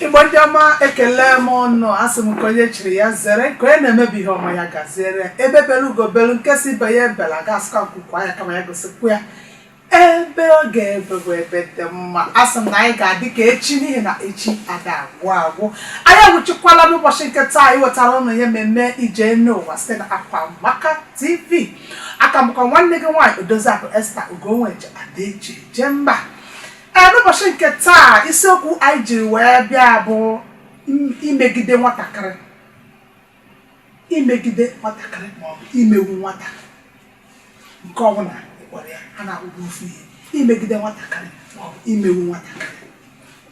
igbo ndị ọma ekelee m ụnụ asị m nke onye chiri ya zere nke onye na-eme bụ ihe ọma ya gaziere ya egbe bere ugo belu nke si ibe ya ebela ga asị ka nku kwaa ya kama ya gosikwu ya ebe ọ ga-ebe bụ ebe dị mma asị m na anyị ga-adị ka echi n'ihi na echi ada agwụ agwụ anyị anwụchukwala n'ụbọchị nke taa anyị wetara ụnụ ihe mmemme ije enu ụwa site na Akwamaka TV aka m bụkwa nwanne gị nwaanyị odoziakụ Esther Ugonweji ada eji eje mba Ee, n'ụbọchị nke taa isiokwu anyị jiri wee bịa bụ im- imegide nwatakịrị imegide nwatakịrị maọbụ imegbu nwata nke ọbụla ị kpọrọ ya a na-ekwukwa ofu ihe imegide nwatakịrị maọbụ imegbu nwatakịrị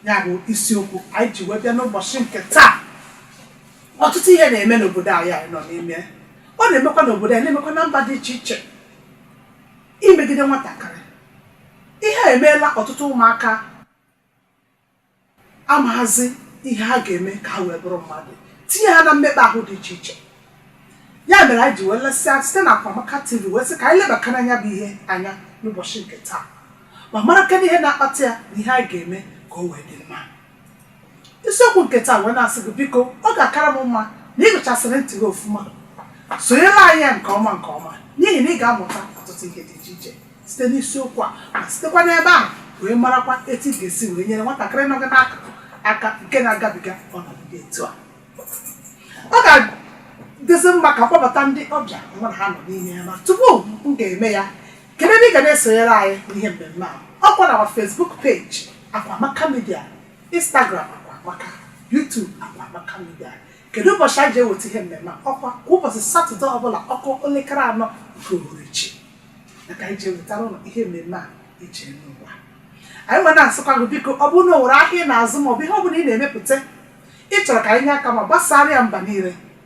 ya bụ isiokwu anyị ji wee bịa n'ụbọchị nke taa ọtụtụ ihe na-eme n'obodo anyị anyị nọ n'ime ọ na-emekwa n'obodo anyị na-emekwa na mba dị iche iche imegide nwatakịrị ihe a emeela ọtụtụ ụmụaka amaghazị ihe ha ga-eme ka ha wee bụrụ mmadụ tinye ha na mmekpa ahụ dị iche iche ya mere anyị ji wee lesịa site na Akwamaka TV wee sị ka anyị lebakene ya bụ ihe anya n'ụbọchị nke taa ma mara kedu ihe na-akpata ya na ihe anyị ga-eme ka o wee dị mma isiokwu nke taa m wee na-asị gị biko ọ ga-akara m mma na ị gechasịrị ntị gị ofuma sonyere anyị nke ọma nke ọma n'ihi na ị ga-amụta ọtụtụ ihe dị iche iche site n'isiokwu a ma sitekwa n'ebe ahụ wee marakwa etu ị ga-esi wee nyere nwatakịrị nọ gị n'akụkụ aka nke na-agabiga ọnọdụ dị etu a ọ ga-adịzi mma ka m kpọbata ndị ọbịa mụ na ha nọ n'ime ya ma tupu m ga-eme ya kedu ebe ị ga na-esonyere anyị n'ihe mmemme a ọkwa na Facebook page Akwamaka media Instagram Akwamaka YouTube Akwamaka media kedu ụbọchị anyị ji eweta ihe mmemme ọkwa kwa ụbọchị satọde ọbụla ọ kụọ elekere anọ nke uhuruchi ka anyị ji ewetara ụnụ ihe mmemme a ije enu ụwa anyị wee na-asịkwa gị biko ọ bụrụ na o nwere ahịa ị na-azụ maọbụ ihe ọ bụla ị na-emepụta ị chọrọ ka anyị nye aka ma gbasara ya mba niile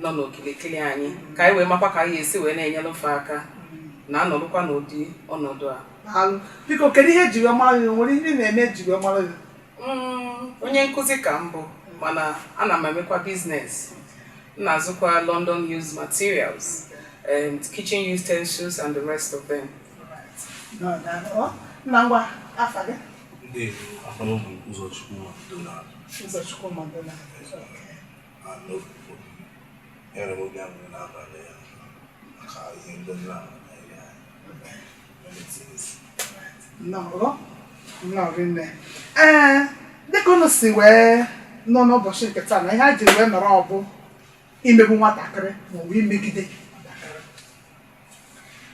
nọ n'okilikili anyị ka anyị wee makwa ka anyị esi wee na-enyere fa aka na anọrụkwa n'ụdị ọnọdụ a daalụ biko kedu ihe eji wee mara gị o nwere ihe ị na-eme eji wee mara gị Mm, onye nkụzi ka m bụ mana ana m emekwa business m na-azụkwa london used materials um, kitchen utensils and the rest of them Nnọọ, daalụ. Ọ, nne gwa m afa gị Ndewo, afa m bụ Ụzọchukwu Madonna. Ụzọchukwu Madonna ee dịka unu si wee nụ n'ụbọchị nke taa na ihe a ji wee nọrọ ọ bụ imegbu nwatakịrị maọbụ imegide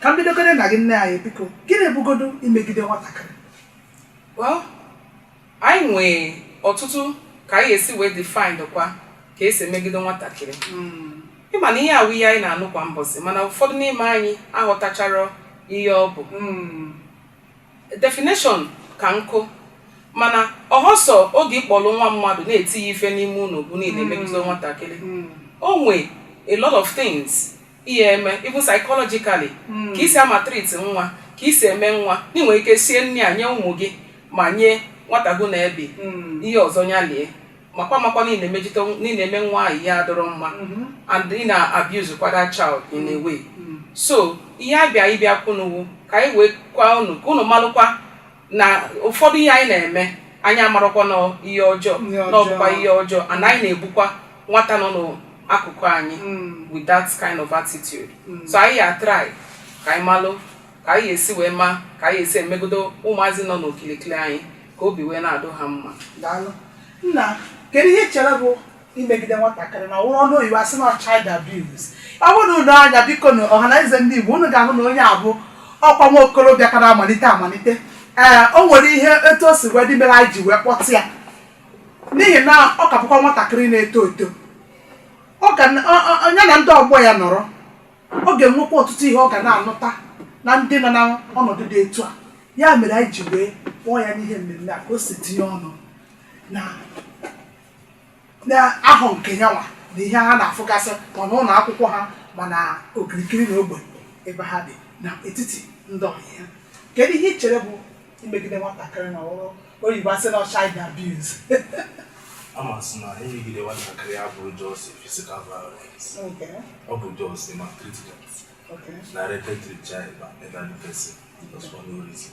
ka m bidogodu na gị nne anyị biko gịnị bụgodu imegide nwatakịrị Anyị nwee ọtụtụ ka anyị esi wee define kwa ka esi emegide nwatakịrị. Ị ma na ihe a wụ ihe anyị na-anụ kwa mbọsị mana ụfọdụ n'ime anyị aghọtacharọ ihe ọ bụ. Definition ka nkụ mana ọ họ sọ oge ị kpọrọ nwa mmadụ na-eti ya ife n'ime ụlọ bụ na ị na-emegide nwatakịrị. O nwe a lot of things ị ya-eme even psychologically hmm. ka i si a-maltreat nwa ka i si eme nwa ị nwere ike sie nri nye ụmụ gị ma nye nwata gị na ya bi hmm. ihe ọzọ ya lie makwa makwa na ị na-eme nwa ahụ ihe adọrọ mma hmm. and ị na-abuse kwa that child in a way so ihe a bịa ịbịa kwunụ wụ ka anyị wee gwa unu ka unu malụkwa na ụfọdụ ihe anyị na-eme anyị amarọkwa na ihe ọjọọ na ọ bụkwa ihe ọjọọ and anyị na-egbukwa nwata nọ n'akụkụ anyị mm. with that kind of attitude mm. so anyị ya try ka anyị malụ ka anyị esi wee ma ka anyị esi emegodo ụmụazị nọ n'okilikili anyị ka obi wee na-adụ ha mma daalụ nna kedu ihe i chere bụ imegide nwatakịrị na ọ wụrụ ọnụ oyibo a sị na child abuse ọ bụrụ na unu lee anya biko na ọha na eze ndị Igbo unu ga-ahụ na onye a bụ ọkwa nwa okorobịa ka na-amalite amalite ee o nwere ihe etu o si wee dị mere anyị ji wee kpọta ya n'ihi na ọ ka bụkwa nwatakịrị na-eto eto ọ ga na- ọ- ọ- ya na ndị ọgbọ ya nọrọ ọ ga-enwekwa ọtụtụ ihe ọ ga na-anụta na ndị nọ na ọnọdụ dị etu a ya mere anyị ji wee kpọọ ya n'ihe mmemme a ka o si tinye ọnụ na n'ahụ nke yanwa na ihe ha na-afụgasị ma n'ụlọ akwụkwọ ha ma na okirikiri na ogbe ebe ha bi na etiti ndị ọyị ya kedu ihe i chere bụ imegide nwatakịrị na ọ wụrụ oyibo a sị na child abuse ama sị na imegide nwatakịrị abụrọ just physical violence Okay, ọ bụ just maltreatment okay. meted to the child by elderly person just for no reason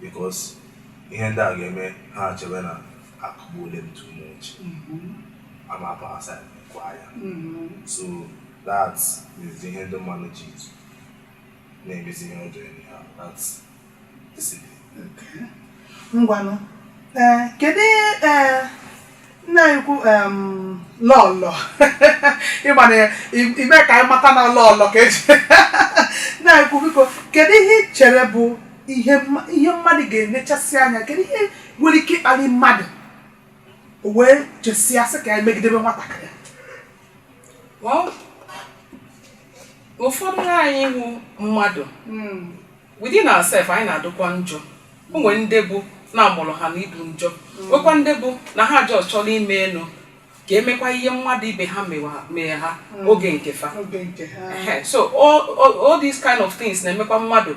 because ihe ndị a ga-eme ha achebe na akụgbuole m too much ama apụ asa kwa ya so that is ihe ndị mmadụ ji na-emezi ihe ọjọọ e nye ha that discipline ngwanụ ee kedu ee nna anyị ukwu em, lọlọ ịma na i- ime ka anyị mata na lọlọ ka eji nna anyị ukwu biko kedu ihe ị chere bụ ihe mma- ihe mmadụ ga-enechasị anya kedu ihe nwere ike ịkpali mmadụ o wee chesịa sị ka ya megidebe nwatakịrị Well, ụfọdụ anyị wụ mmadụ Mm, within ourselves anyị na-adụkwa njọ o nwere ndị bụ na a mụrụ ha na ịdụ njọ nwekwa ndị bụ na ha jos chọrọ ime elu ka e mekwa ihe mmadụ ibe ha mewa- mee ha oge nke fa oge nke ha Ehe, so all, all, all these kind of things na-emekwa mmadụ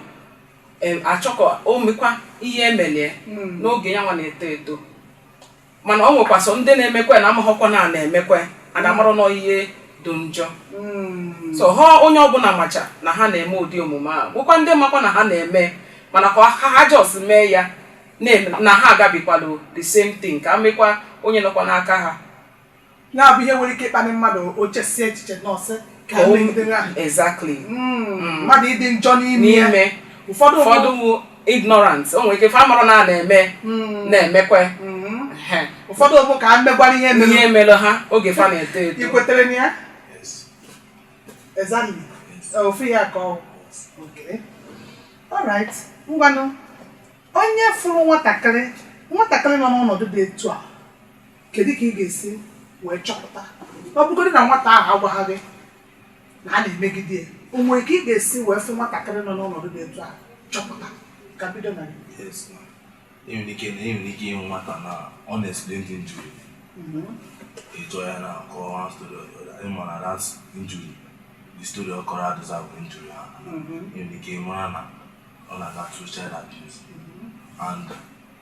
em, achọ ka o mekwa ihe e meli e Mm. n'oge ya nwa na-eto eto mana o nwekwa sọ ndị na-emekwa na amaghọkwa na na-emekwa ya na-amarọ na ihe dị njọ hmm. so ọ họ onye ọbụla macha na ha na-eme ụdị omume a bụkwa ndị makwa na ha na-eme mana ka ha jos mee ya na ha agabigala the same thing ka mekwa onye nọkwa n'aka ha ya bụ ihe nwere ike ịkpali mmadụ o chesie echiche na ọ sị ka Ka o- emegidere ahụ exactly Mm, mmadụ ịdị njọ n'ime ya n'ime ụfọdụ ụfọdụ wụ ignorant o nwere ike fa amarọ na ha na-eme Mm, na-emekwe mm. Ehe. ụfọdụ ọ bụ ka ha megwara ihe ihe mere mere ha oge fa na-eto eto ị kwetere na ya Yes. Exactly. Ọ, ofu ya ka ọ okay. Alright. Ngwanụ onye fụrụ nwatakịrị nwatakịrị nọ n'ọnọdụ dị etu a kedu ka ị ga-esi wee chọpụta ọ bụgodị na nwata ahụ agwaghị gị na a na-emegide ya o nwere ka ị ga-esi wee fụ nwatakịrị nọ n'ọnọdụ dị etu a chọpụta ka m bido na gị e nwere ike na e nwere ike ịhụ nwata na unexplained injury ị jụọ ya na nke ọha story ị ma na that injury the story ọ kọrọ adịza bụ injury ahụ e nwere ike ịmara na ọ na-aga through child abuse and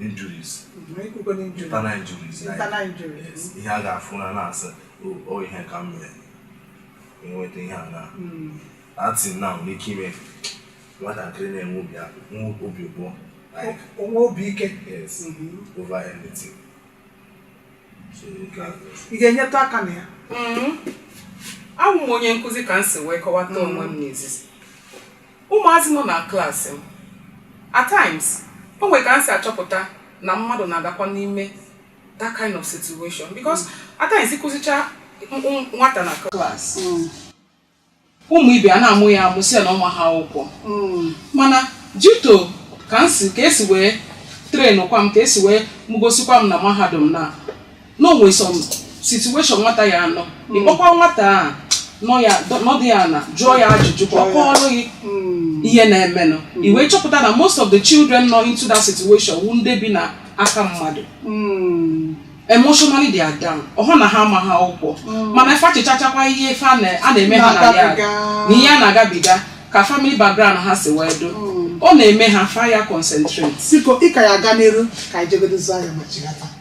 injuries internal injuries ihe a ga-afụ na na-asị o ihe ka m mere enweta ihe a na at times o nwere ike ime nwatakịrị na-enwe obi abụọ o nwe obi ike over anything ị ga-enyetụ aka na ya abụ m onye nkụzi ka m si wee kọwata onwe m n'izizi Ụmụazị nọ na klaasị m. At times, o nwere ka m si achọpụta na mmadụ na-adakwa n'ime that kind of situation because at times ị kụzicha m- m- nwata na klaasị ụmụ ibe ya ana-amụ ya amụ sị ya na ọ maha akwụkwọ mana due to ka m si ka e si wee trainkwa m ka e si wee mụgosikwa m na mahadum na na o nwe some situation nwata ya-anọ ị kpọkwa nwata a nọ ya nọdụ ana jụọ ya ajụjụ ka ọ kọọrọ gị ihe na-emenụ i wee chọpụta na most of the children nọ into that situation wụ ndị bi na aka mmadụ emotionally they are down ọ họ na ha amaghị akwụkwọ mana fa echechachakwa ihe ife a na- a na-eme ha na ya Na-agabiga. na ihe ha na-agabiga ka family background ha si wee dụ ọ na-eme ha fa ya concentrate biko ị ka ya-aga n'iru ka anyị jegodo zụọ ahịa ma chighata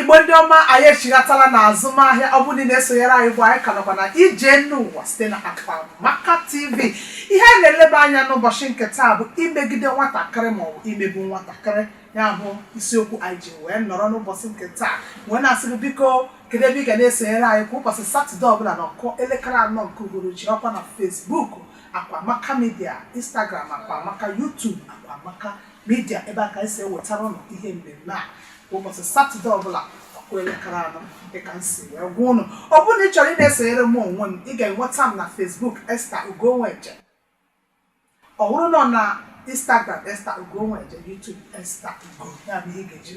igbo ndị ọma anyị echighatala na azụmahịa ọ bụrụ na-esonyere anyị bụ anyị ka nọkwa na ije n'ụwa site na Akwaamaka TV ihe a na-eleba anya n'ụbọchị nke taa bụ imegide nwatakịrị maọbụ imegbu nwatakịrị ya bụ isiokwu anyị ji wee nọrọ n'ụbọchị nke taa wee na-asị gị biko kedu ebe ị ga na-esonyere anyị kwa ụbọchị satọde ọbụla na ọ kụọ elekere anọ nke uhuruchi ọkwa na Facebook Akwaamaka Media Instagram Akwaamaka YouTube Akwaamaka Media ebe a ka anyị si ewetara unu ihe mmemme a kwa ụbọchị satọde ọbụla ọ kụọ elekere anọ dịka m si wee gwa unu ọ bụrụ na ị chọrọ ị na-esonyere m onwe m ị ga-enweta m na Facebook Esther Ugo Nweje ọ bụrụ na ọ na Instagram Esther Ugo Nweje YouTube Esther Ugo ya bụ ihe ị ga-eji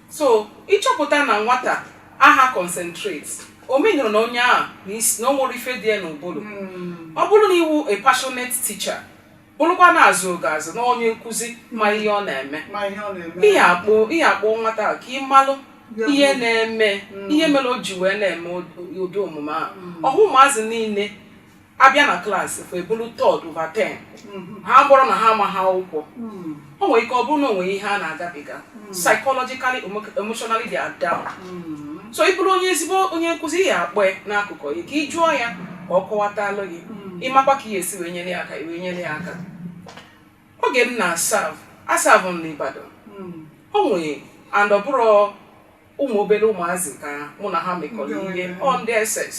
so ịchọpụta na nwata aha concentrate ọ mean na onye ahụ na isi na o nwere ife dị ya n'ụbụrụ ọ bụrụ na ị wụ a passionate teacher bụrụkwa na a zụọ gị azụ na onye nkụzi ma ihe ọ na-eme ma ihe ọ na-eme ị ya akpọ ị ya akpọ nwata ahụ ka ị malụ Ya bụ- ihe na-eme ihe mere o ji wee na-eme ụdị- ụdị omume ahụ ọhụ ụmụazị niile abịa na class fa ebulu third over ten mm-hmm. ha bụrọ na ha amaha akwụkwọ mm. o nwere ike ọ bụrụ na o nwere ihe ha na-agabiga mm. psychologically emotionally they are down mm. so ị bụrụ onye ezigbo onye nkụzi ị ya akpọ ya n'akụkụ gị ka ị jụọ ya ka ọ kọwatalụ gị ị makwa ka ị ya esi wee nyere ya aka wee nyere ya aka oge m na-aserve aserve m n'Ibadan o nwere and ọ bụrụ ụmụ obere ụmụazị ka mụ na ha mekọrọ ihe ọ ndị SS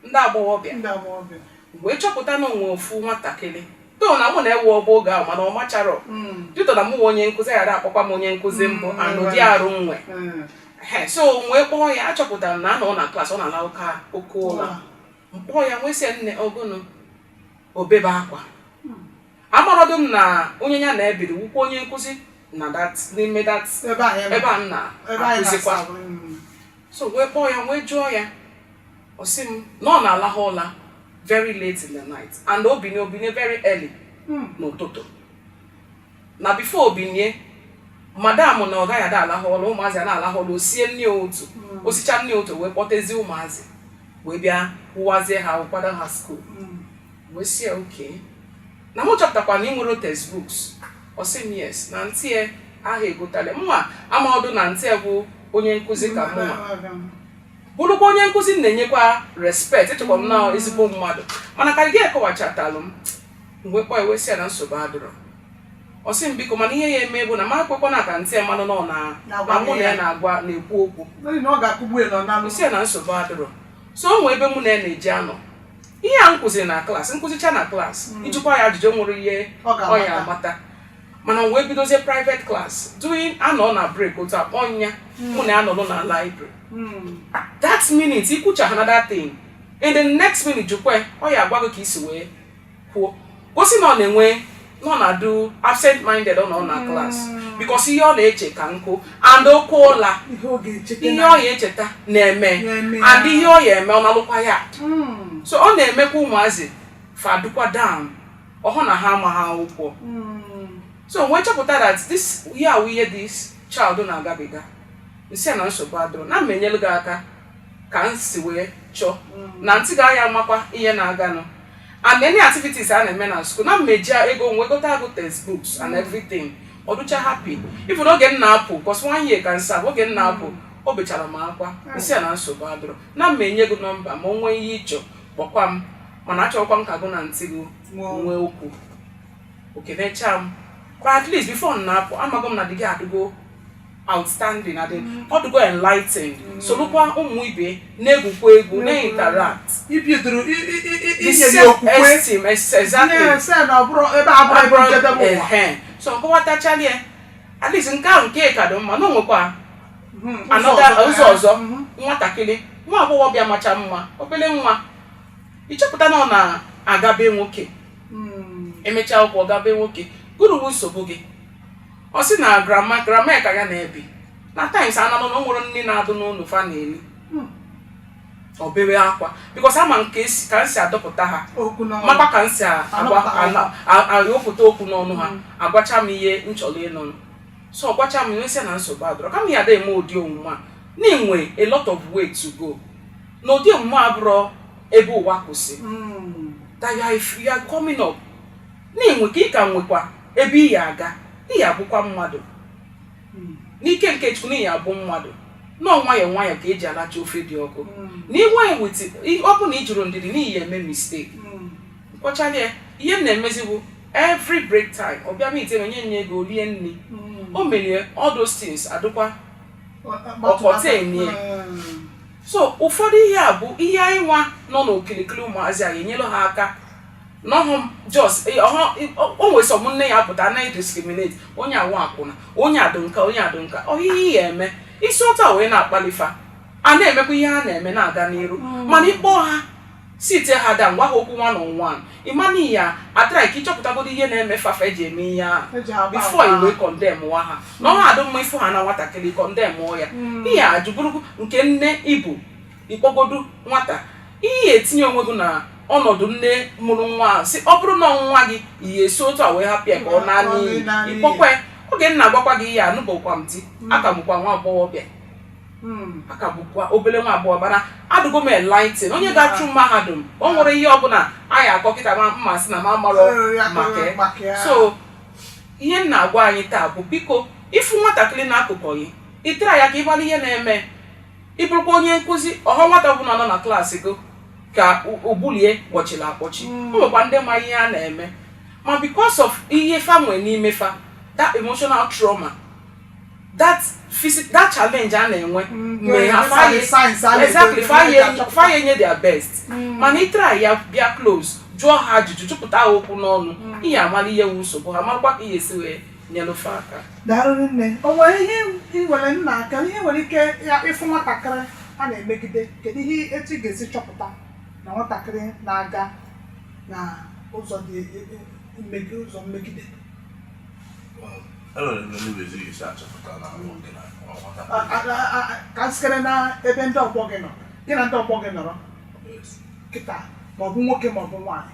ndị agbọghọbịa ndị agbọghọbịa wee chọpụta na o nwe ofu nwatakịrị though na mụ na-ewe ọbụ oge ahụ mana ọ machara Mm, dịtọ na mụ nwe onye nkụzi ghara akpọkwa m onye nkụzi mbụ Mm, anụ dị arụ nwe mm. Ehe, so wee kpọọ ya achọpụtara m na a nọ na class ọ na-alahụ oke ụla m kpọọ ya m wee sị ya nne ọ gịnị o bebe akwa amarọdụ m na onye ya na-ebiri wụkwa onye nkụzi na that n'ime that ebe a ya ebe a m ebe anyị na-akụzikwa na-aserve mm. so wee kpọọ ya wee jụọ ya ọ sị m na ọ na-alahụ ụla very late in the night and o binie o binie very early Mm. n'ụtụtụ na before o binie madam na ọ gaghị ada alahụ ụla ụmụazị a na-alahụ ụla o sie nni ụtụtụ o sichaa nni ụtụtụ wee kpọtezie ụmụazị wee bịa wụwazie ha ahụ kwado ha school Mm. wee sị ya okay na mụ chọpụtakwa na i nwerọ textbooks ọ sị m yes na aunty ya aha egotalụ ya mm amarọdụ m na aunty ya bụ onye nkụzi ka mụwa bụrụkwa onye nkụzi na-enyekwa respect echekwa m na ezigbo mmadụ mana ka o ji kọwachatalụ m m wee kpọ ya wee sị ya na nsogbu adịrọ ọ sị m biko mana ihe ya eme bụ na mụ ekwekwana ka aunty ya malụ nọ na na mụ na ya na-agwa na-ekwu okwu sị ya na nsogbu adịrọ so o nwee ebe mụ na ya na-eji anọ ihe a m kụziri na klaasị m kụzichaa na klaasị hmm. ị jụkwa ya ajụjụ nwere ihe ọ ya amata mana m wee bidozie private class during a nọ na break otu akpọ nya hmm. mụ na ya anọrọ na library hmm. that minute i kwucha ha na that thing in the next minute jụkwe ọ ya agwa gị ka i si wee kwuo gosi na ọ na-enwe n'ọ na-adụ absent minded ọ nọ na hmm. klas bikos ihe ọ na-eche ka nkụ and okwu ụla ihe ọ ya echeta na-eme and ihe ọ ya eme ọ nalukwa ya hmm. so ọ na-emekwa ụmụazị fa dụkwa down ọhụ na ha amaghị akwụkwọ hmm. so m wee chọpụta that this ihe a wụ ihe this child na-agabiga m sị ya na nsogbu adụrọ na m ma-enyelu gị aka ka m si wee chọọ mm. na aunty gị ya amakwa ihe na-aganụ and any activities a na-eme na school na m ma-eji ego m wee gotaa gụ textbooks and mm. everything ọ dụcha happy even oge m na-apụ cos one year ka nsa oge m na-apụ mm. o bechara m akwa m sị ya na nsogbu adụrọ na m ma-enye gị nọmba m o nwee ihe ị chọ kpọkwa m mana achọkwa m ka gụ na aunty gị nwee okwu o kenechaa m kwa at least before m na-apụ amago m na the girl adịgo outstanding adị ọ dịgo enlightened solukwa ụmụ ibe na-egwukwa egwu na-interact ibi duru i- i- i- i- the inye gị self okwukwe esteem ex- exactly na-ese na ọ bụrọ ebe a bụrụ ebe njedebe ụwa Ehe. so m kọwatachali ya at least nke ahụ nke ka dị mma na o nwekwa Mhm, anọda ọzọ ụzọ ya. ọzọ Mhm. nwatakịrị nwa agbọghọbịa macha mma obere nwa ị chọpụta na ọ na-aga be nwoke Mm. e mechaa akwụkwọ gaa be nwoke gụnụ wụ nsogbu gị ọ sị na grandma grandma ya ka ya na-ebi na times ananụ na o nwerọ nni na-adụ n'ụlọ fa na-eli Hmm. o bewe akwa bikos ama m ka e si- ka m si adọpụta ha okwu n'ọnụ. makwa ka m si a- agwa Anọpụta ana- a- ayọpụta okwu n'ọnụ ha agwacha m ihe m chọrọ ịnụnụ so ọ gwacha m ihe m sị na nsogbu adụrọ kama ya ada eme ụdị omume a na i nwe a lot of way to go na ụdị omume a abụrọ ebe ụwa kwụsị Mm. that you are, you are coming up Na i nwe ka ị ka nwekwa ebe ị ya-aga, ị ya-abụkwa mmadụ. N'ike nke Chukwu, na ị ya-abụ mmadụ. Na ọọ nwayọọ nwayọọ ka e ji alacha ofe dị ọkụ. Na iwe ewiti, ọ bụ na i jirọ ndidi, na ị ya-eme mistake. M kwuchaala ya, ihe m na-emezi bụ every break time, ọ bịa meet me, m nye ya ego, o rie nri. O merie, all those things adịkwa ọkọta enye. So ụfọdụ ihe a bụ ihe anyị nwa nọ n'okilikili ụmụazị a ga-enyere ha aka n'ọhụ jos o nwere sọm nne ya pụta anaghị diskriminate onye a wụ akwụna onye adụ nka onye adụ nka ọhịhị ya eme isi ụta wee na-akpali fa a na-emekwa ihe a na-eme na-aga n'iru mm. mana ị kpọọ ha sit ha down gwa ha okwu one on one ịmana ya atara ka ị chọpụtagodo ihe na-eme fa fa ji eme ihe ahụ bifo i wee kọndem nwa ahụ na ọha adụ mma ịfụ ha na nwatakịrị kọndem ya mm. ihe a jụbụrụ nke nne ibu ịkpọgodu nwata ihe itinye onwe gị na ọnọdụ nne mụrụ nwa ahụ si ọ bụrụ na nwa gị ị ya-esi otu a wee hapụ ya ka ọ naa n'iyi ịkpọkwa ya oge m na-agwakwa gị ihe anụbọkwa m di hmm. aka m bụkwa nwa agbọghọbịa hmm. aka m bụkwa obere nwa agbọghọ mana adụgo m enlighten onye hmm. ga-achụ mahadum o nwere ihe ọbụla a ya-akọ kịta ma mma sị na m amarọ maka so ihe m na-agwa anyị taa bụ biko ịfụ nwatakịrị n'akụkụ gị ị try-a ka ị mara ihe na-eme ị bụrụkwa onye nkụzi ọhọ nwata ọbụla nọ na klaasị gị ka ụbụlụ ya kpọchiri akpọchi o mm. nwekwa ndị ma ihe a na-eme ma because of ihe fa nwee n'ime fa that emotional trauma that physical that challenge a na-enwe mm, mgbe ha exactly fa ya-enye their best mm. mana ị try-a bịa close jụọ ha ajụjụ jụpụta ha okwu n'ọnụ mm. ị ya-amara ihe wu nsogbu ha marakwa ka ị ya-esi wee nyelụ fa aka daalụ nne o nwere ihe ị nwere nna aka ihe nwere ike ya ịfụ nwatakịrị a na-emegide kedu ihe etu ị ga-esi chọpụta na nwatakịrị na-aga na ụzọ dị mmegide ụzọ mmegide enwere ndị ndị ezi isi achọpụta na ahụ gị na ọghọta A- a- a- a- a- ka m sikere na ebe ndị ọgbọ gị nọ gị na ndị ọgbọ gị nọrọ kịta maọbụ nwoke maọbụ nwaanyị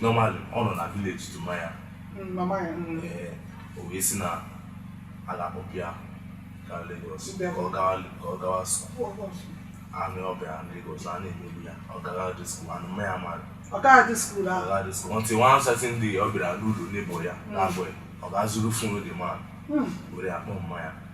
normally ọ nọ na village to maya o wee si na ala ọbịa ka Lagos ka ọ gawa ka ọ gawa anụ ọ bịa Lagos a na-emegbu ya ọ gawa dị skuul anụ mma ya mara ọ gaghị dị skuul ahụ ọ gaghị dị skuul until one certain day ọ bịara n'ụlọ neighbour ya na-abụghị ọ ga-ezuru fon ndị mmadụ were akpọ mma ya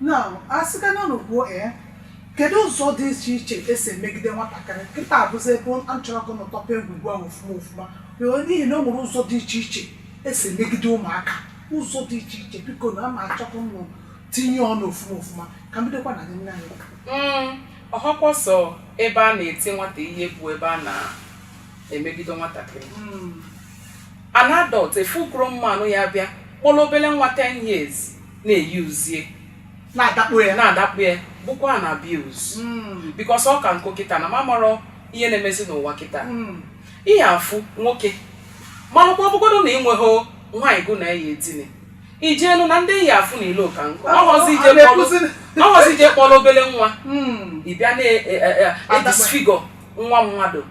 na asịga na n'ugbo ee eh, kedu ụzọ dị iche iche esi emegide nwatakịrị kịta bụzi ebe m chọrọ ka ụnụ tọpee ngwugwu ahụ ofuma ofuma n'ihi na o nwere ụzọ dị iche iche esi emegide ụmụaka ụzọ dị iche iche biko na ama achọkwa ụnụ tinye ọnụ ofuma ofuma ka m bidokwa na nne anyị hmm, ọhọkwa sọ ebe a na-eti nwata ihe bụ ebe a na-emegide nwatakịrị hmm. an adult a full grown man ya bịa kpọrọ obere nwa 10 years na-euse ya na-adakpo ya na-adakpu ya bụkwa an abuse Mm, because ọ ka nkụ kịta na m amarọ ihe na-emezi n'ụwa kịta mm, ị ya-afụ nwoke ma ọhọkwa ọbụgodu na ịnweghị nwaanyị gụ na eyi edine ị jeenụ na ndị ị ya-afụ na ilo ka nkụ ọhọzi ije A na-ekwuzi- kpọrọ- ọhọzi ije kpọrọ obele nwa mm, ị bịa na-edisfigure nwa mmadụ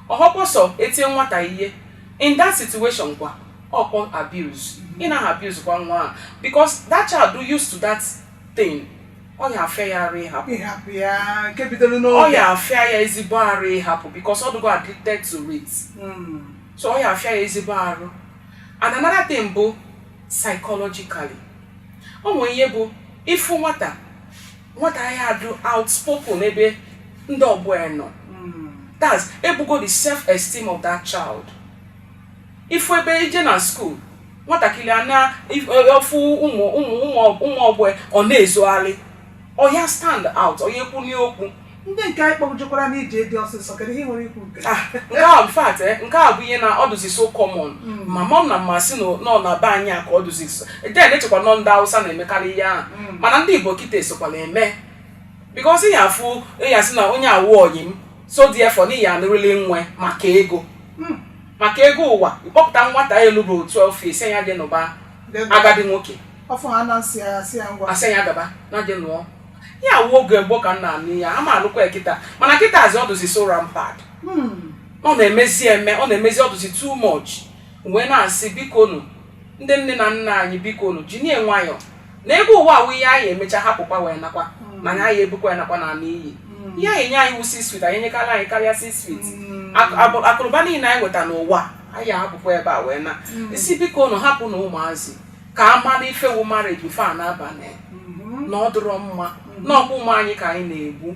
ọhọkwa sọ etie nwata ihe in that situation kwa ọkpọ abuse ị naghị abuse kwa nwa a because that child dụ used to that thing ọ ya afịa ya arụ ịhapụ ịhapụ ya nke bidoro ọ n'oge ya afịa ya ezigbo arụ ịhapụ because ọ dịgo addicted to it Mm. so ọ ya afịa ya ezigbo arụ and another thing bụ psychologically o nwere ihe bụ ị fụ nwata nwata ya adụ outspoken ebe ndị ọgbọ ya nọ Mm. that's egbugo the self esteem of that child ị fụ ebe i je na school nwatakịrị a na-efu ụmụ ụmụ ụmụ ọgbọ ọ na-ezogharị ọ ya stand out ọ ya ekwuni okwu ndị nke anyị kpọjekwara n'ije di ọsịsọ kedu ihe i nwere ikwu nke ah, nke a in fact eh, nke a bụ ihe na ọ dụzi so common hmm. ma mọm na mma si na ọ na be anyị a ka ọ dụzi so then echekwa na ọ ndị awụsa na-emekarị ihe ahụ hmm. mana ndị igbo kịta esokwala eme because ị ya afụ ya si na onye a wụ ọyị m so therefore na ị ya anụrịrị nwa ya maka ego hmm. maka ego ụwa ị kpọpụta nwata ya elu bụ otu ofe ị sị ya je nụba agadi nwoke afọ ha na-asị ya asị ya ngwa asị ya gaba na di lụọ ya wụ oge gboo ka m na-anụ ya ama anụkwa ya kịta mana kịta azị ọ dụzi so rampant Hmm. ọ na-emezi eme ọ na-emezi ọ dụzi too much wee na-asị bikonụ ndị nne na nna anyị biko unu jinie nwayọọ na ebe ụwa a wụ ihe anyị emecha hapụkwa wee nakwa mana anyị ebukwa ya nakwa na naanị ihe a ya enye anyị wụ six feet anyị enyekarị anyị karịa six feet Ak- abụ- akụnụba niile anyị nweta n'ụwa anyị ahapụkwa ebe a wee na-asị biko unu hapụnụ ụmụazị ka ha mara ife wụ marriage before ha na-aba na ya na ọ dịrọ mma na ọ kwa ụmụ anyị ka anyị na-egbu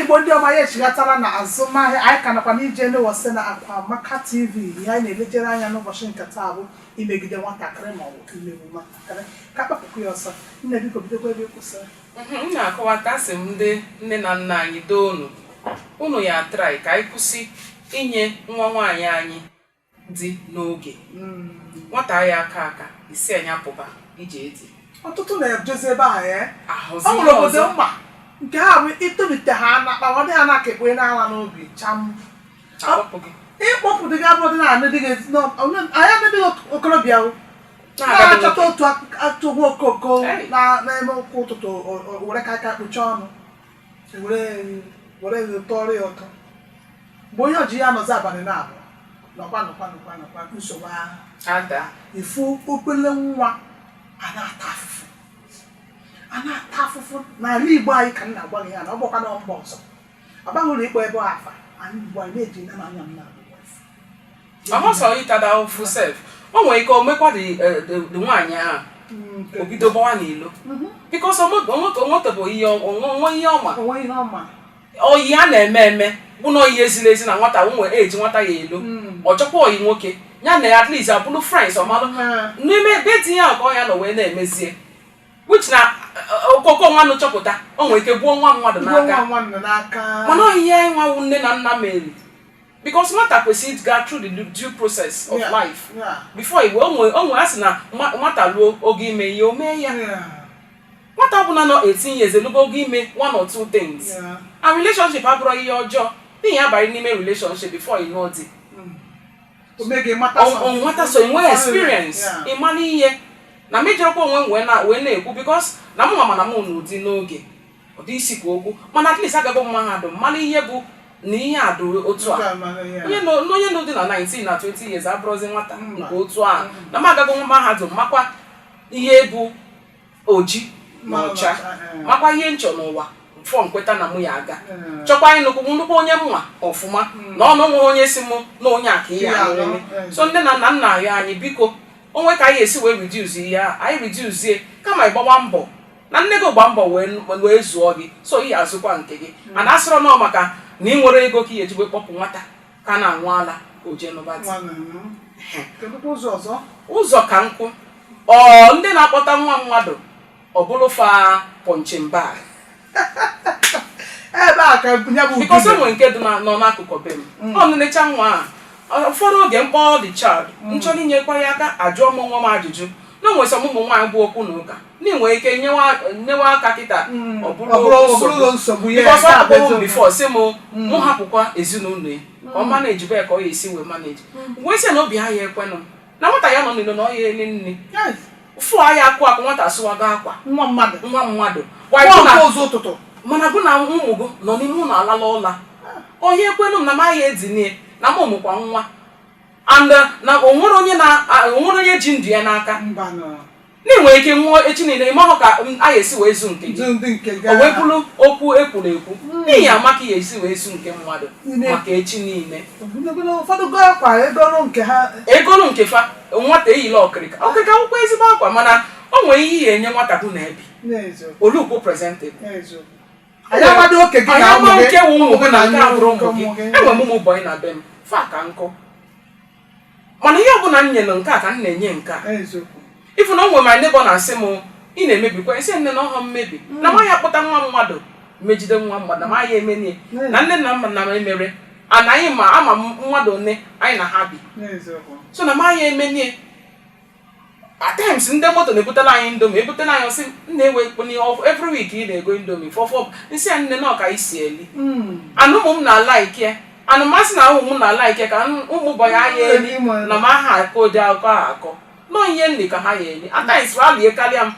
igbo ndị ọma anyị echighatala na azụmahịa anyị ka nọkwa n'ije newose na akwa amaka tv ihe anyị na-elejere anya n'ụbọchị nke taa bụ imegide nwatakịrị ma ọ bụ imegbu nwatakịrị ka kpapụkụ ya ọsọ nne biko bidokwa ebe ị kwụsịrị m na-akọwata sị m ndị nne na nna anyị doo unu unu ya try ka anyị kwụsị inye nwa nwaanyị anyị di n'oge hmm. nwata ya aka aka isi anya pụba ije eti ọtụtụ na-ejezi ebe ahụ ya ọ nwere obodo m ma nke ha bụ i tolite ha na kpawa di ha na-aka ekpere n'ala n'obi cham ịkpọpụ dịga abụ ọdịnala dịghị anya ndị okorobịa na-achọta otu atụgbu okoko na-eme ụkwụ ụtụtụ were ka aka kpuchie ọnụ were ihe tọrọ ya ụtọ mgbe onye ọji ya nọzi abalị naabọ nọkwa nọkwa nọkwa nọkwa nsogbu ahụ adaa ị fụ obele nwa a na-ata afụfụ a na-ata afụfụ n'ala igbo anyị ka m na-agwa gị ya na ọ bụkwa na mba ọzọ agbaghị ụlọ ikpọ ebe ọ afa ala igbo anyị na-eji na anya m na ọhụ sọ ịtada ofu sef o nwere ike omekwa di nwaanyị ahụ o bido gbawa n'ilo because onwetebụ ihe onwe ihe ọma onwe ihe ọma ọ ihe a na-eme eme bụ na ọ ihe ezila ezi na nwata nwe eji nwata ya elo ọ chọkwa ọyị nwoke ya na ya at least abụrụ friends ọmalụ n'ime be di ya nke ọ ya anọ wee na-emezie which na okoko nwa nụ chọpụta o nwere ike gbuo nwa mmadụ Igwe n'aka nwa nwa nọ n'aka mana ọ ihe a nwa wụ nne na nna mere because nwata kwesịrị ịga through the due process of life before i wee onwe onwe a sị na nwata ruo oge ime ihe o mee ya nwata ọbụla nọ 18 years elugo oge ime one or two things and relationship abụrọ ihe ọjọọ ị ya abalị n'ime relationship before ị nụọ di nwata so i nwee experience ị ma n'ihe na m ejikwa onwe m wee na-ekwu because na mụ ma ama na m nụ di n'oge ụdị isi kwa okwu mana at least agabụ m mahadum mara ihe bụ na ihe a dị otu a onye nọ onye nọ dị na 19 na 20 years abụrọzi nwata Mba. nke otu a na m agago nwa mahadum makwa ihe bụ oji na Ma ọcha ọcha, eh. makwa ihe m chọ n'ụwa before m kweta na mụ ya aga Eh. chọkwa ịnụkwụ m nnukwu onye m ma ọfụma na o nwe onye sị mụ na onye a ka ị ya anụ, nwere eh. so nne na nna m na-arịọ anyị biko o nwe ka anyị esi wee reduce ihe a anyị reduce kama ị gbawa mbọ na nne gị gba mbọ wee zụọ gị so ị azụkwa nke gị hmm. mana asịrọ na ọ maka na ị nwere ego ka ị eji wee kpọpụ nwata ka na-anwụ ala ka o jee nụba ọzọ ka m kwuo ndị na-akpọta nwa mmadụ ọ bụrụ fa punching bag ebe a ka ya bụ because e nwe nke dị nọ n'akụkụ be m hmm. ọ nenecha nwa a ụfọdụ oge m kpọ the child m hmm. chọrọ inyekwa ya aka ajụọ m onwe m ajụjụ na o nwe some ụmụ nwaanyị bụ okwu na ụka i nwere ike nyewe aka kịta ọ bụrụ nsogbu because ọ kpọrọ m before sị m mụ hapụkwa ezinụlọ ya ka ọ managebe ya ka ọ ya esi wee manage wee sị na obi ha ya ekwenụ na nwata ya anọ n'ilo na ọ ya eri nri fụ ahịa akụ akụ nwata sụwago akwa nwa mmadụ nwa mmadụ mana gụ na ụmụ gụ nọ n'ime ụlọ alala ụla onye ekwenụ m na m ya edinie na m mụkwa nwa and na o nwerọ onye ji ndụ ya n'aka na i nwere ike nwụọ echi niile ị mahụ ka m- a ga-esi wee zụ nke gị ndị nke o wee bụrụ okwu ekwuru ekwu na ị ya ama ka ị ga-esi wee zụ nke mmadụ Niile. maka echi niile ụfọdụ goo akwa egoro nke ha egolu nke fa nwata eyila ọkịrịka ọkịrịka wụkwa ezigbo akwa mana o nwere ihe ị ya enye nwata bụ na ebi na-ezo ọ lookuo presentable na-ezo anyị amadị oke gị na onye ụmụ ma gị nke wụ ụmụ gị na nke abụrọ ụmụ gị ụmụ gị enwere m ụmụ boy na be m fa ka nkụ mana ihe ọbụla m nyere nke a ka m na-enye nke a ị fụ na o nwere my neighbor na-asị m ị na-emebikwa esi nne na ọhọ mmebi na mm. maghị akpọta nwa mmadụ megide nwa mmadụ na maghị emeni ya na nne na nna na emere anaghị ma ama mmadụ nne anyị na ha bi so na maghị emeni ya at times ndị moto na-ebutela anyị Indomie ebutela anyị ọ sị nna ewe kponi every week ị na-ego Indomie fọfọ m sị ya nne na ọ ka e si eli Hmm. and ụmụ m na-alike and masị na ụmụ m na-alike ka m- ụmụ bọị a eli na m aha akọ ụdị akọ a akọ nọ ihe m ri ka ha ya eli at times ha lie karịa m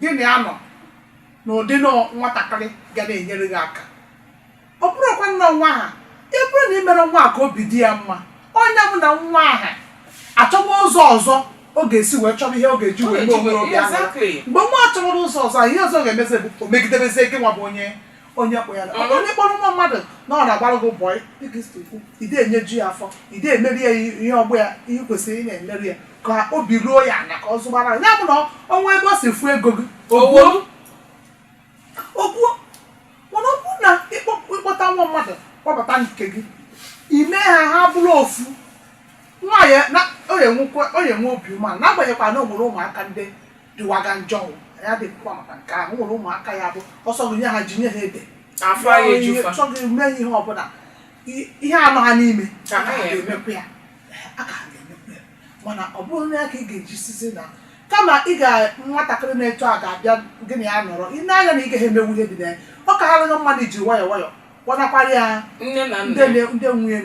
gị na ya nọ n'ụdị na nwatakịrị ga na-enyere gị aka ọ bụrụkwa na nwa aha ọ bụrụ na ị mere nwa a ka obi dị ya mma onye bụ na nwa aha achọrọ ụzọ ọzọ ọ ga-esi wee chọrọ ihe ọ ga-eji wee mee onwe ya obi aṅụrị. Exactly. mgbe nwa chọrọ ụzọ ọzọ ihe ọzọ ga-emezi bụ o megidebezie gị nwa bụ onye onye kpọ ya na- onye kpọrọ nwa mmadụ na ọ na-agbara gị bọị dịka i si kwu i de enyeju ya afọ i de emerụ ya ihe ọ bụ ya ihe kwesịrị ị na-emerụ ya ka obi ruo ya ana ka ọ zụgbara ya bụ na o nwe ebe o si fụ ego gị Owo. okwuo mana ọ bụrụ na ịkpọ- ịkpọta nwa mmadụ kpọbata nke gị i mee ha ha bụrụ ofu nwa ya na- ọ ya enwekwa- ọ ya enwe obi umeala n'agbanyeghịkwa na o nwere ụmụaka ndị dịwaga njọ o. anyị adịghịkwa maka nke ahụ nwere ụmụaka ya bụ ọ sọ gị nye ha ji nye ha ede afọ anaghị eju fa chọghị eme ihe ọbụla I- ihe a nọ ha n'ime Ka ha ya eme. ga-emekwa ya a ka ha ga-emekwa ya mana ọ bụrụ na ya ka ị ga-eji sịzị na kama ị ga nwatakịrị na-eto a ga-abịa gị na ya nọrọ ị na-anya na ị gaghị emewu ihe dị na ya ọ kaara gị mma na i ji nwayọọ nwayọọ kpọnakwara ya nne na ndị nna na- ndị nwe ya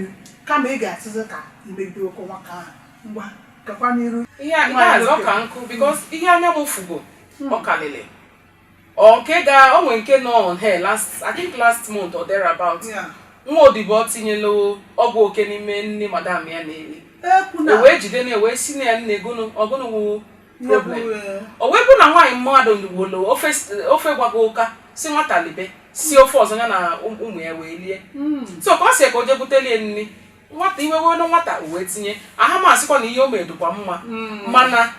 kama ị ga-asịzi ka i megide oke nwaka ahụ ngwa gakwa n'iru ihe a- ihe ọzọ ka m kwu because ihe anya m fugo ọ kalịlị ọ nke ga o nwere nke nọ on air last i think last month or thereabout Yeah. nwa odibo tinyela ọgwụ oke n'ime nni madam ya na-eri ekwu na o wee jide na wee sị na ya nne gụnụ ọ gụnụ wụ ihe bụ problem eh, o wee kwu na nwaanyị mmadụ ndụgbolo ofe ofe gbago ụka sị nwata libe si ofe ọzọ ya na ụm- ụmụ ya wee lie mm. so ka ọ sị ka o je butelie nri nwata iwe wee nwata wee tinye aha m asịkwa na ihe o mere dịkwa mma hmm. mana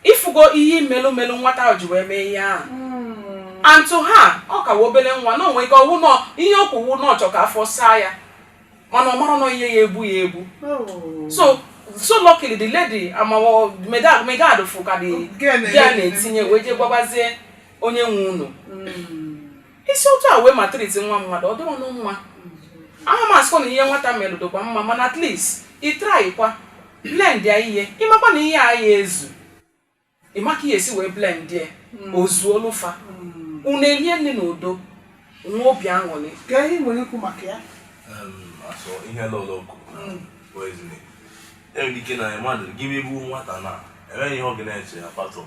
ị fụgo ihe melu melu nwata ahụ ji wee mee ihe ahụ hmm. and though ọ ka wụ obere nwa na o nwe ike ọ wụ nọ ihe o kwu wụ na ọ chọ ka afọ saa ya mana ọ marọ nọ ihe ya egbu ya egbu oh. so so luckily the lady amawo maiguard fụ ka dị ya na-etinye wee jee gwabazie onye nwe ụnọ hmm. i si otu a wee maltreat nwa mmadụ ọ dụrọ nụ mma ama m asịkwa na ihe nwata melụ dịkwa mma mana at least ị trykwa blend ya ihe ị makwa na ihe a ya-ezu ị ma ka ị ya-esi wee blend ya o zuolu fa unu elie nni n'udo nwee obi aṅụrị Kee ihe i nwere ikwu maka ya. asọ ihe lọlọ ọkụ poisoning enwere ike na mmadụ gị bụ nwata na enweghị ihe ọ ga na-eche ya patọm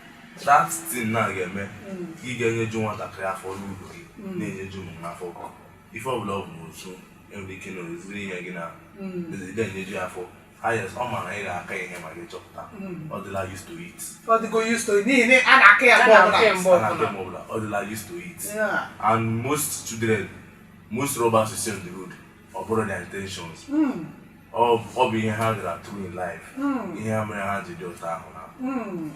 that thing ị ga-eme ka ị ga-enyeju nwatakịrị afọ n'ụdị gị na-enyeju ụmụ m afọ ife ọbụla ọ bụ n'otu enwere ike na o ziri ihe gị na ide enyeju ya afọ yes ọ mara ị ga-aka ihe ma gị chọpụta ọ dịla used to it ọ dịgo used to it n'ihi na a na-aka ya mgbe ọbụla a na-aka mgbe ọbụla ọ dịla used to it and most children most robbers is on the road ọ bụghị ha intentions hmm. ọ bụ ihe ha gara through in life hmm. ihe ha mere ha ji dị otu ahụ na hmm.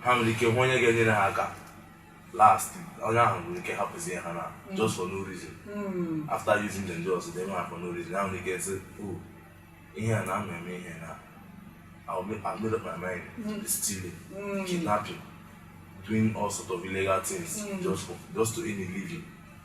ha nwere ike hụ onye ga-enyere ha aka last onye ahụ nwere ike hapụzie ha na just for no reason after using them just they nwa for no reason ha nwere ike sị oh, ihe a na ama eme ihe na I'll make, I'll make up my mind mm. stealing, mm. kidnapping, doing all sort of illegal things mm. just for just to earn a living.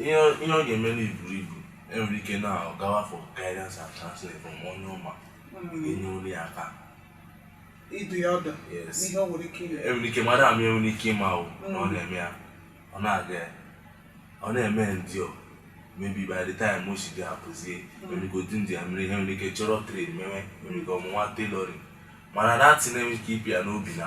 ihe ọ ga-eme na iburu ibu enwere ike na ọ gawa for guidance and counseling from onye ọ ma ga-enyelu ya aka ịdụ ya ọdụ n'ihe o nwere ike ime enwere ike mmadụ ama enwere ike ịma ahụ na ọ mm. na-eme ya ọ na-aga ya ọ na-eme ndị or maybe by the time o si dị apụzie mm. enwere ike otu ndị ya mere ihe nwere ike chọrọ trade mewe enwere ike ọ mụwa tailoring mana that thing enwere ike ịpịa n'obi na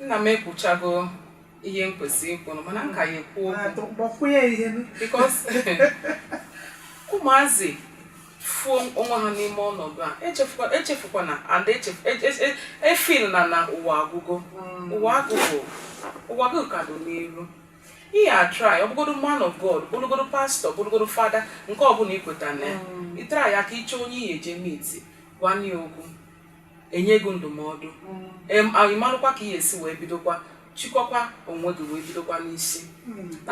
nna m ekwuchago ihe m kwesịrị ikwu mana m ka ya-ekwu okwu because ụmụazị fụ onwe ha n'ime ọnọdụ a echefukwana a da-efeel na na ụwa agụgo mm. ụwa agụgo ụwa gị ka dị n'iru ị ya-atry ọ bụgodo man of god bụrụgodo pastọ bụrụgodo fada nke ọbụla i kweta na ya mm. ị try ya ka ị chọọ onye ị ya-eje meet gwa ya okwu e nye gị ndụmọdụ ị marụkwa ka ị ga-esi wee bidokwa chịkọkwa onwe gị wee bidokwa n'isi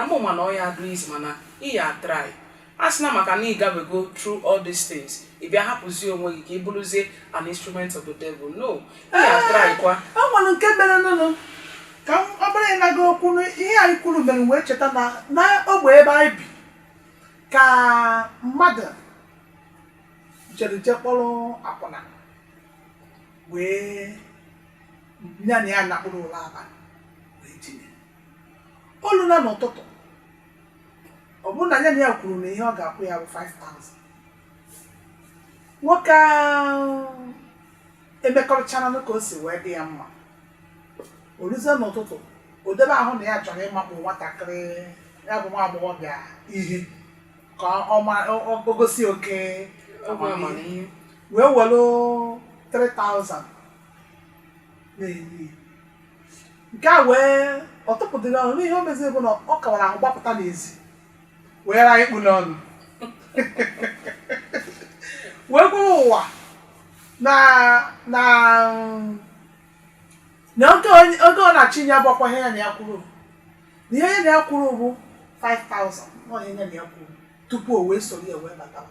ama m na ọ ya adụ easy mana ị ya-atry asịna maka na ị gabego through all these things ị bịa hapụzie onwe gị ka ị bụrụzie an instrument of the devil no ị ya-atrykwa o nwere nke mere nụnụ ka m ọ bụrụ ịnaga okwu na ihe anyị kwuru mere m wee cheta na na ogbe ebe anyị bi ka mmadụ ncherịche jee kpọrọ akwụna wee ya na ya nakpuru ụla abalị wee dinie o lu na n'ụtụtụ ọ bụrụ na ya na ya kwuru na ihe ọ ga-akwụ ya bụ 5000 nwoke ahụ emekọrịchara nụ ka o si wee dị ya mma o luzie n'ụtụtụ o debe ahụ na ya chọrọ ịmakpụ nwatakịrị ya bụ nwa agbọghọbịa ihe ka ọ gosi oke amamihe wee were 3000 na-enye nke a wee ọ tụpụdịrọ ọnụ n'ihe o meziri bụ na ọ kawara ahụ gbapụta n'ezi were mkpu n'ọnụ wee gwara ụwa na na na ego ọ na-achịnye ya abụrọkwa ihe ya na ya kwuru na ihe ya na ya kwuru bụ 5000 na ọ ihe ya na ya kwuru tupu o wee soro ya wee bata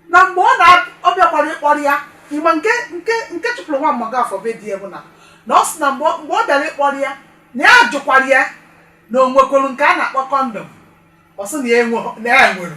na mgbe ọ na ọ bịakwara ịkpọrọ ya ị ma nke nke nke chụpụrụ nwa Mgbafọ be di ya bụ na na ọ sị na mgbe ọ- mgbe ọ bịara ịkpọrọ ya na ya jụkwara ya na o nwekwuru nke a na-akpọ condom ọ sị na ya enweghị- na ya nwere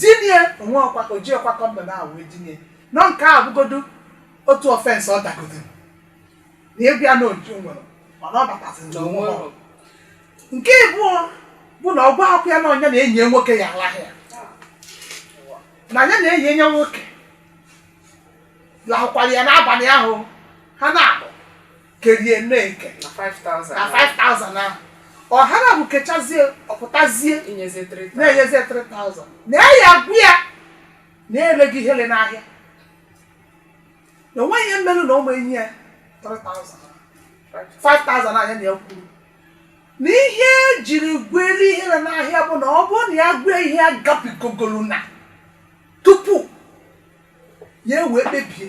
dinie o nwerọkwa o jirọkwa condom ahụ wee dinie na nke a bụgodu otu offense ọ dagodoro na ọ gwa ya na o ji nwere mana ọ batazi na o nwerọ. nke ịbụọ bụ na ọ gwarọkwa ya na ọ nya na enyi ya nwoke ya-alahụ ya na ya na enyi ya nwoke lahụkwara ya n'abalị ahụ ha naabọ kerie na-eke na 5000 na 5000 ahụ ọ ha abụọ kechazie ọ pụtazie inyezi 3000 na-enyezie 3000 na ya agwa ya na-ele gị ihe ele n'ahịa na o nweghị ihe mere na ọ ma enye ya 3000 5000 nya na ya kwuru na ihe e jiri gwere ihe na n'ahịa bụ na ọ bụrụ na ya gwee ihe ya gabigagoro na tupu ya wee kpebie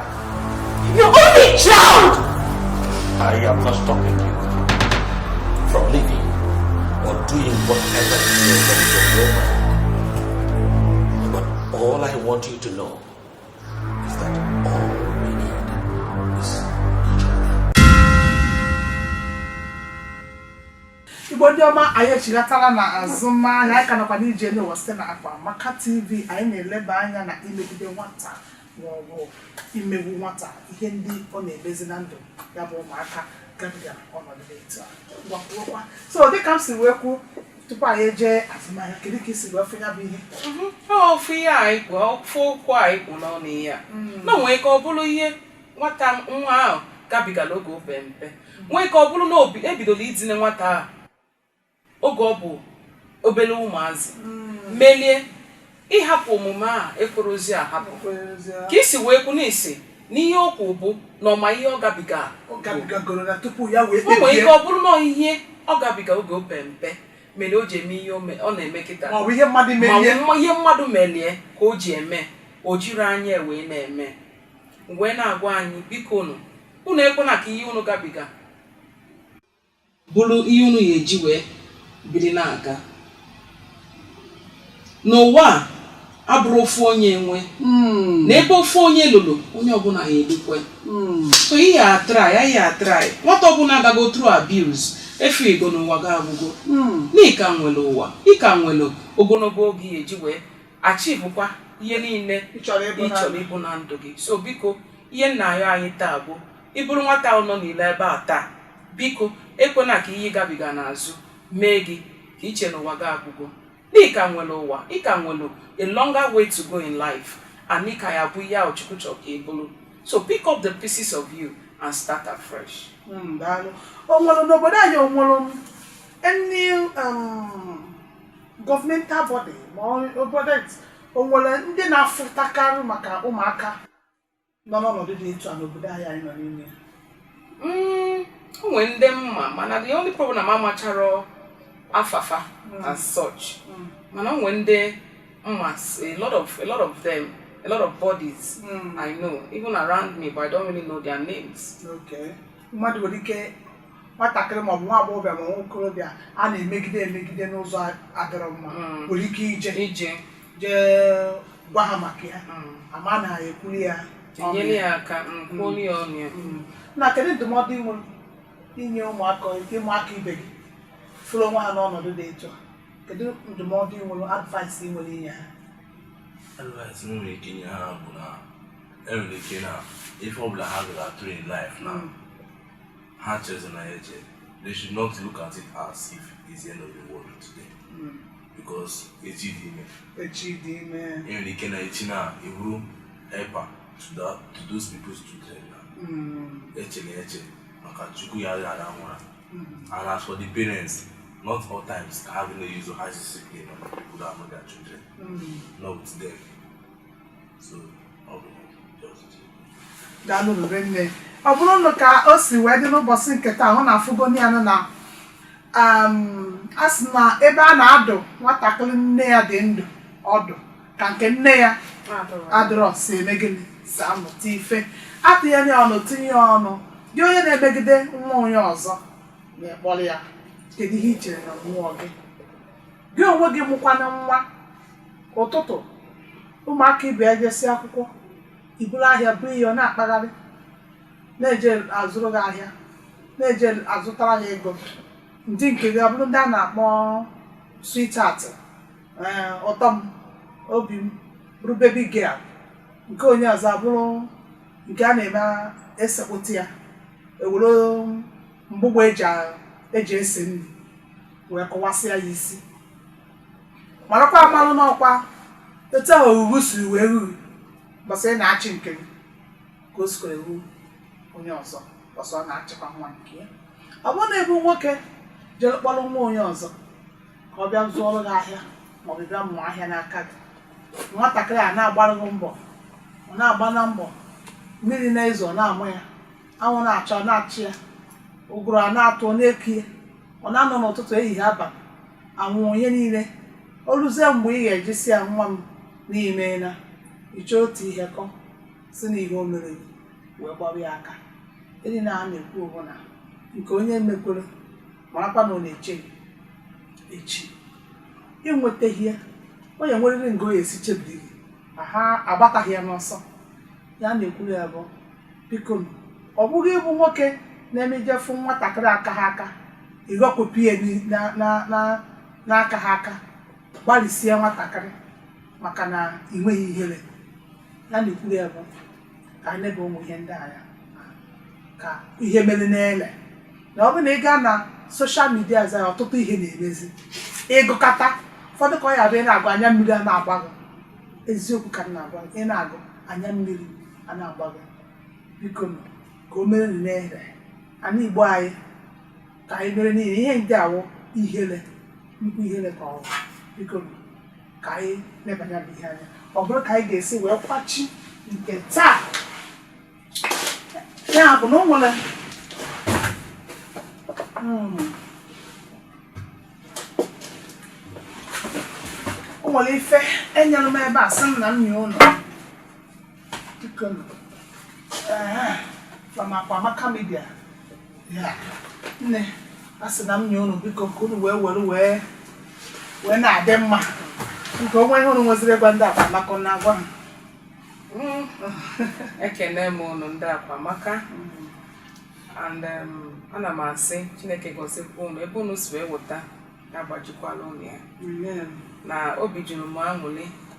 Your only child! I am not stopping you from living or doing whatever it is that is your But all I want you to know is that all we need is each other. Igbo ndị ọma anyị echighatala na azụmahịa anyị ka nọkwa n'Ije Enu Ụwa site na Akwa Amaka TV anyị na-eleba anya na imegide nwata ma ọ bụ imegbu nwata ihe ndị ọ na-emezi na ndụ ya bụ ụmụaka gabiga ọnọdụ dị etu a gbakwuokwa so dịka m si wee kwuo tupu anyị ejee azụmahịa kedu ka i si wee fụ ya bụ ihe ofu ihe anyị kwu ofu okwu anyị kpụ n'ọnụ ihe a na o nwee ike ọ bụrụ ihe nwata nwa ahụ gabigala oge o pe mpe nwee ike ọ bụrụ na o bi- ebidola idine nwata ahụ oge ọ bụ obere ụmụazị mm. melie ịhapụ omume a ekwerọzi ahapụ ka i si wee kwu n'isi na ihe o kwu bụ na ọ ma ihe ọ gabiga o nwere ike ọ bụrụ na ihe ọ gabiga oge o pe mpe mere o ji eme ihe ọ na-eme kịta ma ihe mmadụ melie ka o ji eme o jiri anya wee na-eme wee na-agwa anyị biko unu unu ekwena ka ihe unu gabiga bụrụ ihe unu ya eji wee biri na-aga na ụwa a abụrọ ofu onye nwe na ebe ofu onye ruru onye ọbụla ya erukwe so ị ya atry ị ya atry nwata ọbụla agago through abuse efu ego na ụwa gị agwụgo na ị ka nwere ụwa ị ka nwere ogologo oge ị ya eji wee achievekwa ihe niile Ị chọrọ ịbụ ị na- chọrọ ịbụ na ndụ gị so biko ihe m na-ayọ anyị taa bụ Ị bụrụ nwata ahụ nọ n'ile ebe a taa, biko ekwena ka ihe ị gabiga n'azụ mee gị ka i chee na ụwa gị agwụgo. Na ị ka nwere ụwa, ị ka nwere a longer way to go in life and ị ka ya bụ ihe ahụ Chukwu chọrọ ka ị bụrụ. So pick up the pieces of you and start afresh. Mm, daalụ. O nwere n'obodo anyị o nwere m any um, governmental body ma ọ- obodo o nwere ndị na-afụtakarị maka ụmụaka nọ n'ọnọdụ dị etu a n'obodo anyị anyị nọ n'ime ya? Mm, o nwere ndị m ma mana the only problem na m amacharọ afa fa as such Mm. mana o nwere ndị m ma s- a lot of a lot of them a lot of bodies Mm. I know even around me but I don't really know their names Okay. mmadụ nwere ike nwatakịrị maọbụ nwa agbọghọbịa ma nwa okorobịa a na-emegide emegide n'ụzọ adịrọ mma Mm. nwere ike ije ije jee gwa ha maka ya ama na ekwuli ya ọnụ tinyere ya. ya aka nkwụli ya ọnụ ya Mm. na kedu ndụmọdụ ị nwere inye ụmụaka ụmụaka ibe gị fụrụ onwe ha n'ọnọdụ dị etu a kedu ndụmọdụ ị nwere advice ị nwere inye ha advice m nwere ike inye ha bụ na enwere ike na ife ọbụla ha gara through in life na ha echezina ya eche they should not look at it as if it's the end of the world today because echi dị ime echi dị ime enwere ike na echi na abụrụ helper to that to those people's children na mm. echena eche maka chukwu adịghị arahụ ụra mm. and as for the parents not all times ka ha na use high discipline on people that are not their children mm. not with them so ọ bụrụ na ka o si wee dị n'ụbọsị nke taa ụnụ afụgo ya na um, a sị na ebe a na-adụ nwatakịrị nne ya dị ndụ ọdụ ka nke nne ya adịrọ si eme gịnị si amụta ife atụnyere ya ọnụ tinye ya ọnụ gị onye na-emegide nwa onye ọzọ na-akpọrị ya kedu ihe i chere na mmụọ gị gị onwe gị mụkwanụ nwa ụtụtụ ụmụaka ibe ya ejesi akwụkwọ i buru ahịa bo ya ọ na-akpagharị na-eje azụrụ gị ahịa na-eje azụtara gị ego ndị nke gị abụrụ ndị a na-akpọ sweetheart ee ụtọ m obi m bụrụ baby girl nke onye ọzọ abụrụ nke a na-eme esekpụta ya ewere mgbụgbọ eji a- eji esi nri wee kụwasịa ya isi marakwa amalụ n'ọkwa etu ahụ oruru siri wee ruru bọsị ị na-achị nke gị ka o sikwa eru onye ọzọ bọsị ọ na-achịkwa nwa nke ya ọ bụrụ na ị bụ nwoke jere kpọrọ nwa onye ọzọ ka ọ bịa zụọrọ gị ahịa maọbụ bịa mụọ ahịa n'aka gị nwatakịrị a na-agbara gị mbọ ọ na-agba na mbọ mmiri na-ezo ọ na-ama ya anwụ na-acha ọ na-acha ya ụgụrụ a na-atụ ọ na-eku ya ọ na-anọ n'ụtụtụ ehihie abalị anwụ onye niile o ruzie mgbe ị ga-eji sị ya nwa m na i meena ị chọọ otu ihe kọọ sị na ihe o mere gị wee gbọrọ ya aka ihe anyị na-ekwu bụ na nke onye mekwere marakwa na ọ na-eche gị echi i nwetaghị ya ọ ya-enwerịrị nga ọ ya-esi chebiri gị ma ha agbataghị ya n'ọsọ ihe a na-ekwuru ya bụ biko nụ, ọ bụrụ ị bụ nwoke na-emejefu nwatakịrị aka ha aka ịghọkpụpụ ya n'i- na- na- na- n'aka ha aka gbalịsie nwatakịrị maka na ị nweghị ihere ihe a na-ekwuru ya bụ ka anyị lebawe ihe ndị a anya ka ihe mere anyị ihere na ọ bụ na ị gaa na social media za ọtụtụ ihe na-emezi ị gụkata ụfọdụ ka ọ ya-adị ị na-agụ anya mmiri a na-agba gị eziokwu ka m na-agwa gị ị na-agụ anya mmiri a na-agba gị biko nụ, ka o mere anyị ihere ana igbo anyị ka anyị mere n'ihi ihe nke a wụ ihere nnukwu ihere ka ọ bụ biko ka anyị lebanye ya bụ ihe anya ọ bụrụ ka anyị ga-esi wee kwachie nke taa ya bụ na o nwere hmm. o nwere ife e nyere m ebe a sị m na m nye ụnụ from Akwamaka Media nne a sị na m nye unu biko ka unu wee were wee wee na-adị mma nke o nwee ihe unu nweziri gwa ndị Akwamaka na-agwa m mm. ekene m unu ndị Akwamaka and um, ana m asị Chineke gọzikwa unu ebe unu si wee weta agbajikwala unu ya na obi juru m aṅụli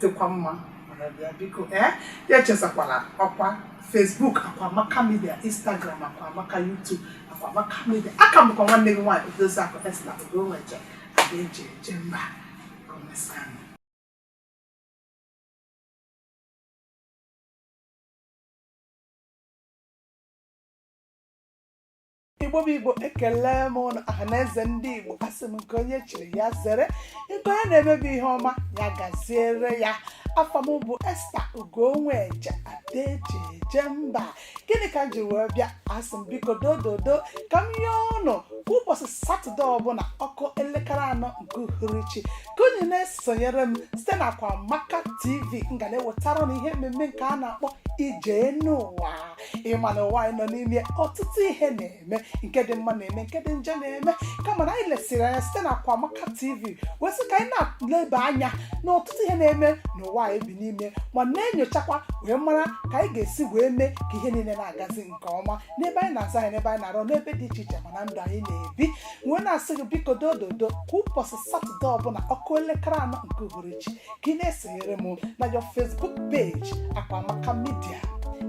dịkwa mma mara bịa biko ee ya echezakwala ọkwa Facebook akwa amaka media Instagram akwa amaka YouTube akwa amaka media aka bụkwa nwanne gị nwaanyị odozi akụ esta ugonweje ada eji eje mba ka o mesịanụ igbo bụ igbo ekele m ụnụ ọha na eze ndị igbo asị m nke onye chiri ya zere nke onye na-eme bụ ihe ọma ya gaziere ya afa m bụ esta ugonweje ada eji eje mba gịnị ka m ji wee bịa asị m biko dododo ka m yọọ ụnụ kwa ụbọchị satọde ọbụla ọ kụọ elekere anọ nke uhuruchi ka unu na-esonyere m site na Akwamaka tv m ga na-ewetara unu ihe mmemme nke a na-akpọ ije enu ụwa ị ma na ụwa anyị nọ n'ime ọtụtụ ihe na-eme nke dị mma na-eme nke dị njọ na-eme kama na anyị lesịrị anya site na Akwamaka TV wee sị ka anyị na-eleba anya na ọtụtụ ihe na-eme n'ụwa anyị bi n'ime ma na-enyochakwa wee mara ka anyị ga-esi wee mee ka ihe niile na-agazi nke ọma n'ebe anyị na-azụ ahịa n'ebe anyị na-arụ n'ebe dị iche iche ma na ndụ anyị na-ebi wee na-asị gị biko dododo kwa ụbọchị satọde ọbụla ọ kụọ elekere anọ nke uhuruchi ka ị na-esonyere m na our facebook page akwamaka media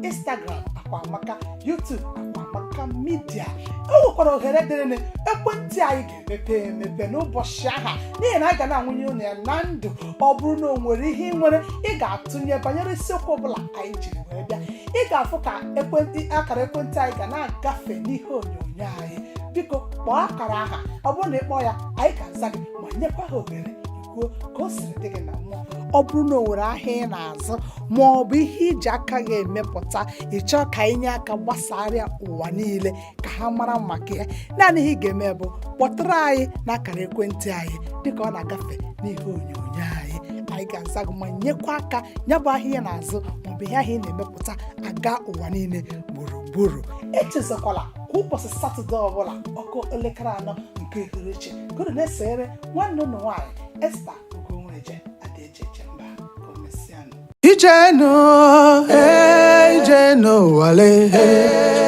instagram akwamaka youtube akwamaka media o nwekwara ohere dịrịnị ekwentị anyị ga-emepe emepe n'ụbọchị aha n'ihi na anyị ga na-ebunye unu ya na ndụ ọ bụrụ na o nwere ihe ị nwere ị ga-atụnye banyere isiokwu ọbụla anyị jiri wee bịa ị ga-afụ ka ekwentị akara ekwentị anyị ga na-agafe n'ihe onyonyo anyị biko kpọọ akara aha ọ bụrụ na ị kpọọ ya anyị ga-aza gị ma nyekwa gị ohere kwuo ka o siri dị gị na mmụọ ọ bụrụ na o nwere ahịa ị na-azụ ma ọ bụ ihe i ji aka gị emepụta ị chọọ ka anyị nye aka gbasara ya ụwa niile ka ha mara maka ya naanị ihe ị ga-eme bụ kpọtụrụ anyị n'akara ekwentị anyị dịka ọ na-agafe n'ihe onyonyo anyị anyị ga-aza gị ma nyekwa aka ya bụ ahịa ị na-azụ maọbụ ihe ahụ ị na-emepụta aga ụwa niile gburugburu echezakwala kwa ụbọchị satọde ọbụla ọ kụọ elekere anọ nke uhuruchi ka unu na-esoro nwanne unu nwaanyị esta ugonweje ada eji eje mba ka o mesịanụ Ije enu, eh, ije enu ụwa le, eh.